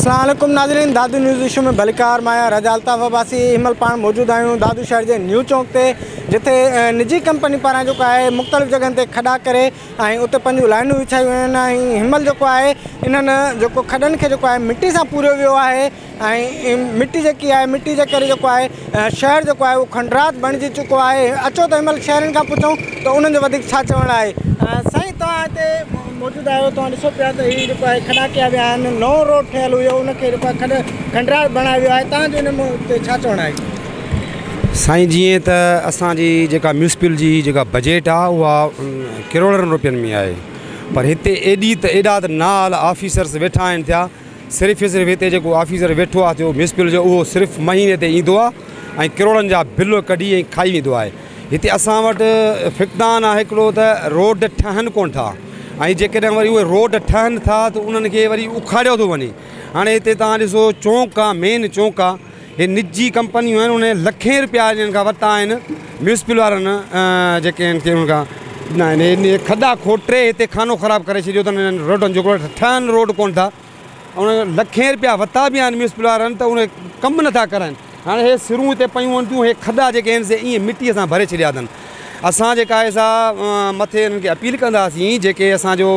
اسلام عليڪم ناظرين دادو نيوز ايشو ۾ ڀليڪار مان آهيان رضا الطاف عباسي هن مهل پاڻ موجود آهيون دادو شهر جي نيو چونڪ تي جتي نجي ڪمپني پاران جيڪو آهي مختلف جڳهن تي کڏا ڪري ۽ اتي پنهنجون لائنون وڇايون ويون آهن ۽ هن مهل جيڪو آهي انهن جيڪو کڏن کي جيڪو آهي مٽي سان پوريو ويو آهي ۽ مٽي جيڪي آهي مٽي جي ڪري جيڪو آهي شهر جيڪو آهي اهو کنڊرات بڻجي چڪو آهي اچو ته هن مهل شهرين کان پڇون ته انهن جو وڌيڪ ڇا چوڻ آهي سائين توهان هتي موجود آهيو توهان ڏسو پيا ته هي جيڪو آهي کڏا ڪيا ويا آهن نئون روڊ ٺهيل هيو ان کي جيڪو آهي کڏ کنڊرات بڻايو ويو آهي توهان جو ان تي ڇا چوڻ آهي سائين جيئن ته اسانجي جيڪا ميونسپل جي جيڪا بجيٽ آهي اها ڪروڙن روپين ۾ آهي پر هتي ايڏي ته ايڏا ته نال آفيسرس ويٺا آهن ٿيا صرف ئي صرف هتي جيڪو آفيسر ويٺو آهي ٿيو ميونسپل جو اهو صرف مهيني تي ايندو آهي ۽ ڪروڙن جا بل ڪڍي ۽ کائي ويندو آهي هتي اسان وٽ فقدان آهي هڪڙو ته روڊ ٺهن ڪون ٿا ۽ جيڪڏهن وري اهي روڊ ٺهن ٿا ته انهن کي وري اکاڙيو ٿو وڃي هاڻي هتي توهان ڏسو چونڪ آهي مين چونڪ آهي هي نجي ڪمپنيون آهن انهن لکين رپيا انهن کان ورتا آهن ميونسپل وارن جيڪي انهن کي انهن کان ڏنا آهن هي انهي کڏا کوٽري هتي خانو خراب ڪري ڇڏيو اٿن انهن روڊن جو ٺهن روڊ ڪونه ٿا انهن کان لکين رپيا ورتا به آهن ميونسپل وارن ته انهي ڪم نٿا ڪرائين هاڻي هي سرون هتي پيون هونديون هي کڏا جيڪي آهن سي ائين مٽي سان ڀري ڇڏيا اٿن. اسان جي ڪاهي صاحب مٿي انهن کي اپيل ڪنداسين جيڪي اسان جو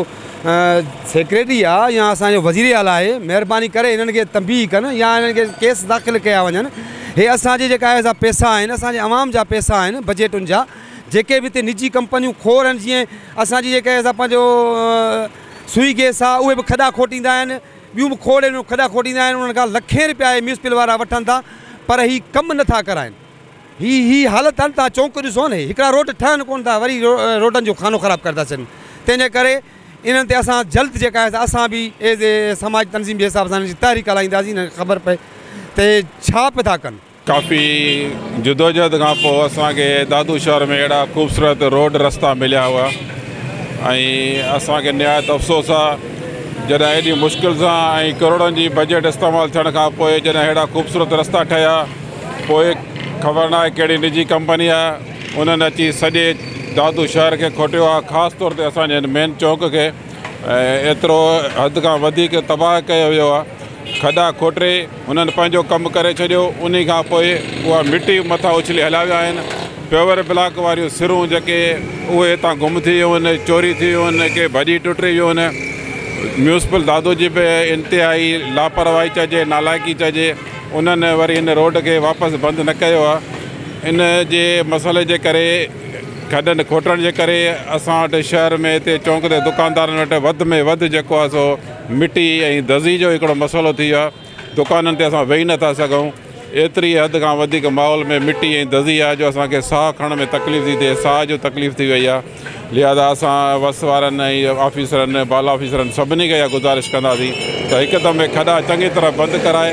سيڪريٽري آ يا اسان جو وزير اعليٰ آهي مهرباني ڪري انهن کي تنبيهه ڪن يا انهن کي ڪيس داخل ڪيا وڃن هي اسان جي جيڪا آهي سا پيسا آهن اسان جي عوام جا پيسا آهن بجيٽن جا جيڪي به هتي نجي ڪمپنيون کور آهن جيئن اسان جي جيڪا آهي سا پنهنجو سوئي گيس آ اهي به کڏا کوٽيندا آهن ٻيون به کوڙ آهن کڏا کوٽيندا آهن انهن کان لکين روپيا هي ميونسپل وارا وٺن ٿا پر هي ڪم نٿا ڪرائين. هي هي حالت هن تان چونڪ ڏسو نه هڪڙا روڊ ٺهن ڪون ٿا وري روڊن جو خانو خراب ڪري ٿا ڇڏن تنهن جي ڪري انهن تي اسان جلد جيڪا آهي سا اسان به ايز اي سماجي تنظيم جي حساب سان هن جي تحريڪ هلائينداسين هن کي خبر پئي ته هي ڇا پي ٿا ڪن. ڪافي جدوجهد کان پوء اسان کي دادو شهر ۾ اهڙا خوبصورت روڊ رستا مليا هئا ۽ اسان کي نهايت افسوس آ جڏهن ايڏي مشڪل سان ۽ ڪروڙن جي بجيٽ استعمال ٿيڻ کان پوء جڏهن اهڙا خوبصورت رستا ٺهيا پوء خبر ناهي ڪهڙي نجي ڪمپني آهي انهن اچي سڄي دادو شهر کي کوٽيو آهي خاص طور تي اسان جي هن مين چونڪ کي ايترو حد کان وڌيڪ تباهه ڪيو ويو آهي کڏا کوٽي هنن پنهنجو ڪم ڪري ڇڏيو انهي کان پوء اها مٽي مٿان اڇلي هليا ويا آهن پيور بلاڪ واريون سرون جيڪي اهي هتان گم ٿي ويون آهن چوري ٿي ويون آهن ڪي ڀڄي ٽٽي ويون آهن ميونسپل دادو جي به انتهائي لاپرواهي چئجي نالائقي چئجي انهن وري ان روڊ کي واپس بند نه ڪيو آهي. ان جي مسئلي جي ڪري کڏن کوٽڻ جي ڪري اسان وٽ شهر ۾ هتي چونڪ تي دڪاندارن وٽ وڌ ۾ وڌ جيڪو آهي سو مٽي ۽ دزي جو هڪڙو مسئلو ٿي ويو آهي. دڪانن تي اسان ويهي نه ٿا سگهون. ايتري حد کان وڌيڪ ماحول ۾ مٽي ۽ دزي آهي جو اسان کي ساهه کڻڻ ۾ تڪليف ٿي ٿئي. ساهه جو تڪليف ٿي وئي آهي. لهٰذا اسان وس وارن ۽ آفيسرن، بالا آفيسرن سڀني کي اها گذارش ڪنداسين ته هڪ دم کڏا چڱي طرح بند ڪرائي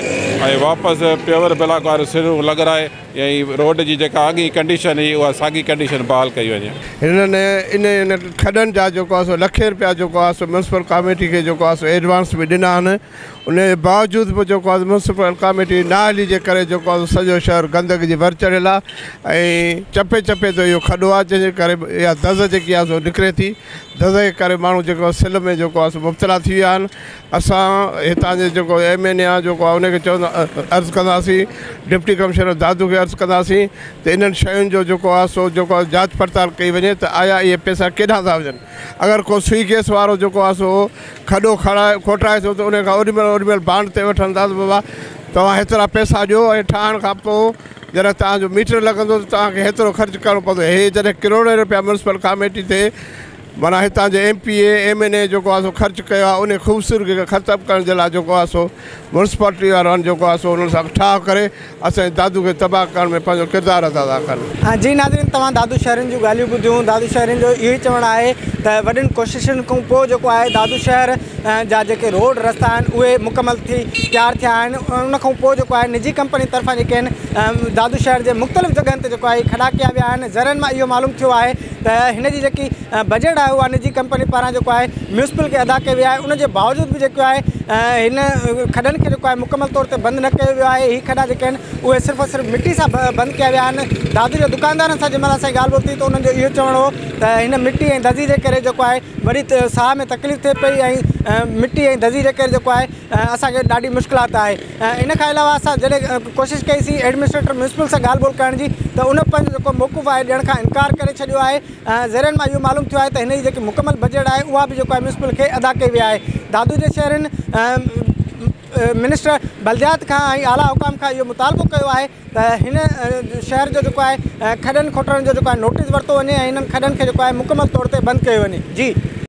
۽ واپس پيور بلاڪ واريون سرون لڳرائي ۽ روڊ جي جيڪا اڳين ڪنڊيشن هئي اها ساڳي ڪنڊيشن بحال ڪئي وڃي. هنن انهن کڏن جا جيڪو آهي سو لکين رپيا جيڪو آهي سو ميونسپل ڪاميٽي کي جيڪو آهي سو ايڊوانس به ڏنا آهن. ان جي باوجود به جيڪو آهي ميونسپل ڪاميٽي نااهلي جي ڪري جيڪو آهي سڄو شهر گندگي جي ڀر چڙهيل آهي ۽ چپي چپي تي اهو کڏو آهي جنهن جي ڪري اها دز جيڪي آهي سو نڪري ٿي دز جي ڪري ماڻهو جيڪو آهي سل ۾ جيڪو آهي سو مبتلا ٿي ويا آهن اسان هتان جي جيڪو ايم اين اي آهي جيڪو آهي ان کي چوندا عرض ڪنداسين ڊپٽي ڪمشنر دادو کي عرض ڪنداسين ته انهن شين جو جيڪو آهي سو جيڪو آهي جاچ پڙتال ڪئي وڃي ته آيا اهي پيسا ڪيڏانهن ٿا وڃن اگر ڪو سوئي گيس وارو جيڪو آهي سو کڏو کڻائي کوٽائي ٿو ته انهي کان اوڏي مهل اوڏي مهل بانڊ تي وٺن ٿا ته بابا توهان هيترا پئسا ڏيو ۽ ٺاهڻ کان پوء جڏهن توهان جو ميٽر لڳندو ته توهان کي هيترو خرچ ڪرڻو پوندو هي جڏهن ڪروڙين رپيا ميونسپل ڪاميٽي تي معنيٰ هتان جي M P A M N A جيڪو آهي سو خرچ ڪيو آهي انهي خوبصورگي کي ختم ڪرڻ جي لاء جيڪو آهي سو ميونسپالٽي وارن جيڪو آهي سو انهن سان ٺاهه ڪري اسان جي دادو کي تباهه ڪرڻ ۾ پنهنجو ڪردار ادا ٿا ڪن. جي ناظرين توهان دادو شهرين جون ڳالهيون ٻڌيون دادو شهرين جو اهو ئي چوڻ آهي ته وڏين ڪوششن کان پوء جيڪو آهي دادو شهر جا جيڪي روڊ رستا آهن اهي مڪمل ٿي تيار ٿيا آهن ان کان پوء جيڪو آهي نجي ڪمپني طرفان جيڪي آهن دادو شهر جي مختلف جڳهن تي جيڪو آهي کڏا ڪيا ويا آهن ذريعن مان اهو معلوم ٿيو آهي ته هن جي جيڪي بجيٽ آهي اها نجي ڪمپني پاران جيڪو آهي ميونسپل کي ادا ڪئي وئي آهي ان جي باوجود به جيڪو آهي هن کڏن کي جيڪو آهي مڪمل طور تي بند نه ڪيو ويو آهي هي کڏا جيڪي آهن اهي صرف اور صرف مٽي سان بند ڪيا ويا آهن دادو جي دڪاندارن سان جنهن مهل اسان جي ڳالهه ٻولهه ٿي ته انهن جو اهو چوڻ هو ته هن مٽي ۽ دزي جي ڪري جيڪو آهي وڏي ساهه ۾ تڪليف ٿئي پئي ۽ مٽي ۽ دزي جي ڪري جيڪو آهي اسان کي ڏاڍي مشڪلات آهي ان کان علاوه اسان جڏهن ڪوشش ڪئي سي ايڊمنسٽريٽر ميونسپل سان ڳالهه ٻولهه ڪرڻ جي ته ان پنهنجو جيڪو موقف آهي ڏيڻ کان انڪار ڪري ڇڏيو آهي ۽ ذريعن مان اهو معلوم ٿيو آهي ته هن جي جيڪي مڪمل بجيٽ آهي اها به جيڪو آهي ميونسپل کي ادا ڪئي وئي آهي دادو جي شهرين منسٽر بلديات کان ۽ اعليٰ حڪام کان اهو مطالبو ڪيو آهي ته هن شهر جو جيڪو آهي کڏن کوٽڻ جو جيڪو آهي نوٽيس ورتو وڃي ۽ هنن کڏن کي جيڪو آهي مڪمل طور تي بند ڪيو وڃي جي